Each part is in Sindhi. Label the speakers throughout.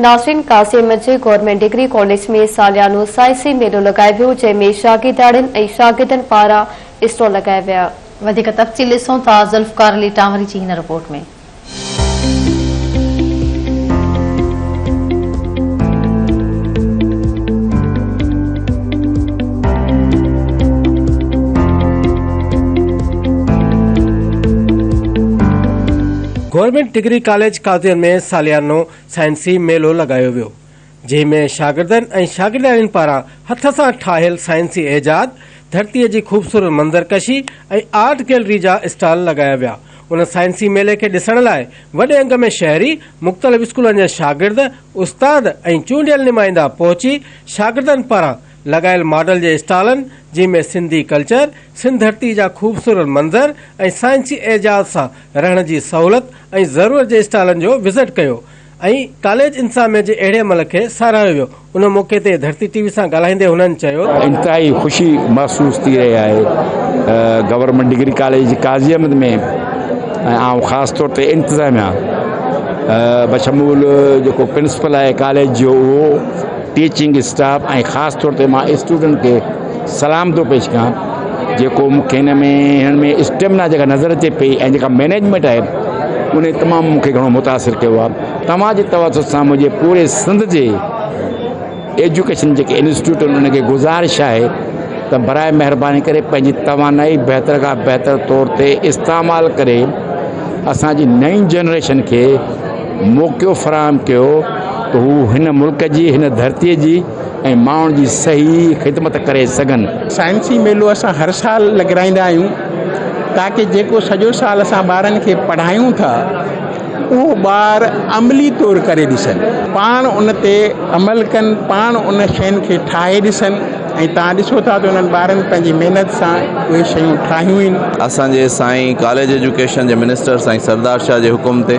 Speaker 1: ناصرين قاسم جي گورنمينٽ ڊگري ڪاليج ۾ ساليانو سائنسي ميلو لڳايويو جنهن ۾ شاگردياڻين ۽ شاگردن پاران اسٽال لڳايا ويا. وڌيڪ تفصيل
Speaker 2: ڏسون ٿا ذوالفقار علي ٽانوري جي هن رپورٽ ۾.
Speaker 3: گورنمينٽ ڊگري ڪاليج قاضين ۾ ساليانو سائنسي ميلو لڳايو ويو جنهن ۾ شاگردن ۽ شاگردياڻين پاران هٿ سان ٺاهيل سائنسي ايجاد، ڌرتي جي خوبصورت منظر ڪشي ۽ آرٽ گيلري جا اسٽال لڳايا ويا ان سائنسي ميلي کي ڏسڻ لاء وڏي انگ ۾ شهري، مختلف اسڪولن جا شاگرد، استاد ۽ چونڊيل نمائندا پهچي شاگردن پاران لڳايل ماڊل جي اسٽالن جنهن ۾ سنڌي ڪلچر، سنڌ ڌرتي جا خوبصورت منظر ۽ سائنسي اعجاز سان رهڻ جي سهولت ۽ ضرورت جي اسٽالن جو وزٽ ڪيو ۽ ڪاليج انتظاميه جي اهڙي عمل کي ساراهيو ويو ان موقعي تي ڌرتي ٽي وي سان ڳالهائيندي هنن چيو ته انتهائي خوشي
Speaker 4: محسوس ٿي رهي آهي government degree college Qazi Ahmed ۾ ۽ آئون خاص طور تي انتظاميه بشمول جيڪو پرنسپل آهي ڪاليج جو اهو ٽيچنگ اسٽاف ۽ خاص طور تي مان اسٽوڊنٽ کي سلام ٿو پيش ڪيان جيڪو مون کي هن ۾ هنن ۾ اسٽيمنا جيڪا نظر اچي پئي ۽ جيڪا مينيجمينٽ آهي ان تمام مون کي گهڻو متاثر ڪيو آهي توهان جي توسط سان منهنجي پوري سنڌ جي ايجوڪيشن جيڪي انسٽيٽيوٽ آهن انهن کي گذارش آهي ته برائي مهرباني ڪري پنهنجي توانائي بهتر کان بهتر طور تي استعمال ڪري اسان جي نئين جنريشن کي موقعو فراهم ڪيو ته هو هن ملڪ جي، هن ڌرتي جي ۽ ماڻهن جي صحيح خدمت ڪري سگهن. سائنسي ميلو اسان
Speaker 5: هر سال لڳرائيندا آهيون تاڪه جيڪو سڄو سال اسان ٻارن کي پڙهايون ٿا اهو ٻار عملي طور ڪري ڏسن پاڻ ان تي عمل ڪن پاڻ ان شين کي ٺاهي ڏسن. ۽ توهان ڏسو ٿا ته انهن ٻارن پنهنجي محنت سان اهي شيون ٺاهيون آهن. اسان جي سائين
Speaker 6: ڪاليج ايجوڪيشن جي منسٽر سائين سردار شاهه جي حڪم تي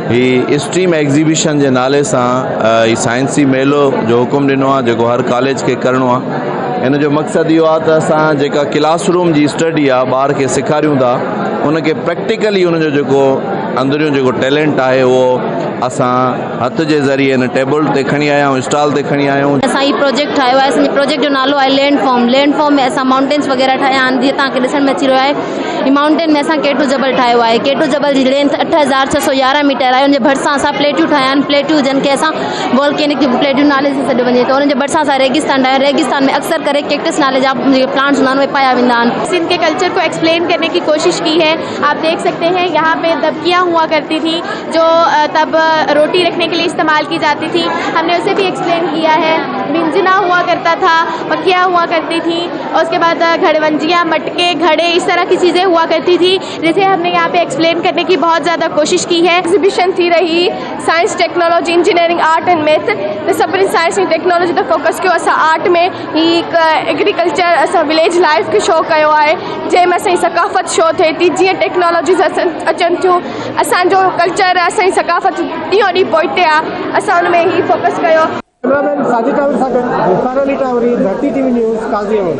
Speaker 6: هي اسٽريم ايگزيبيشن جي نالي سان هي سائنسي ميلو جو حڪم ڏنو آهي جيڪو هر ڪاليج کي ڪرڻو آهي ان جو مقصد اهو آهي ته اسان جيڪا ڪلاس روم جي اسٽڊي آهي ٻار کي سيکاريون ٿا ان کي پريڪٽيڪلي ان جو جيڪو اندريون جيڪو ٽيلنٽ آهي اهو اسان هٿ جي ذريعي هن ٽيبل تي کڻي آيا آهيون اسٽال تي کڻي آيا آهيون. اسان هي پروجيڪٽ ٺاهيو آهي
Speaker 2: اسان جي پروجيڪٽ جو نالو آهي لينڊ فارم لينڊ فارم ۾ اسان مائونٽينس وغيره ٺاهيا آهن جيئن توهان کي ڏسڻ ۾ اچي رهيو آهي هي مائونٽين ۾ اسان ڪيٽو جبل ٺاهيو آهي ڪيٽو جبل جي لينٿ اٺ هزار ڇهه سؤ يارهن ميٽر آهي ان جي ڀرسان اسان پليٽون ٺاهيا آهن پليٽون جن کي اسان والڪينڪ پليٽون نالي سان سڏيو وڃي ٿو ان جي ڀرسان اسان ريگستان ٺاهيا ريگستان ۾ اڪثر ڪري ڪيڪٽس نالي جا جيڪي پلانٽس هوندا آهن اهي پايا ويندا آهن. سنڌ ڪي ڪلچر ڪو ايڪسپلين
Speaker 7: ڪرني ڪي ڪوشش ڪي هي آپ ديک سڪتي هي يهان پي دٻڪيان هئا ڪرتي ٿي. جو تب روٽي رکڻي ڪي لئي استعمال ڪي جاتي ٿي ھم ني اسي بي ايڪسپلين ڪيا ھي منجنا ھئا ڪرتا ٿا پکيا ھئا ڪرتي ٿي اور اسڪي بعد گھڙونجيا مٽڪي گھڙي اس طرح ڪي چيزي ھئا ڪرتي ٿي جسي ھم ني يھان پي ايڪسپلين ڪرني ڪي بھت زياده ڪوشش ڪي ھي ايگزيبشن ٿي رھي
Speaker 8: science technology engineering art and math تي سڀني سائنس ۽ ٽيڪنالاجي تي فوڪس ڪيو اسان آرٽ ۾ ھي ھڪ ايگريڪلچر اسان وليج لائيف کي شو ڪيو آھي جنھن ۾ اسان جي ثقافت شو ٿئي ٿي جيئن ٽيڪنالاجي اچن ٿيون اسان جو ڪلچر اسان جي ثقافت ڏينهون ڏينهن پوئتي آ اسان ان ۾ هي فوڪس ڪيو.
Speaker 9: ڪيمرا مين
Speaker 8: ساجد
Speaker 9: ٽاوري سان گڏ مختار
Speaker 8: علي
Speaker 9: ٽاوري، ڌرتي ٽي وي نيوز، قاضي احمد.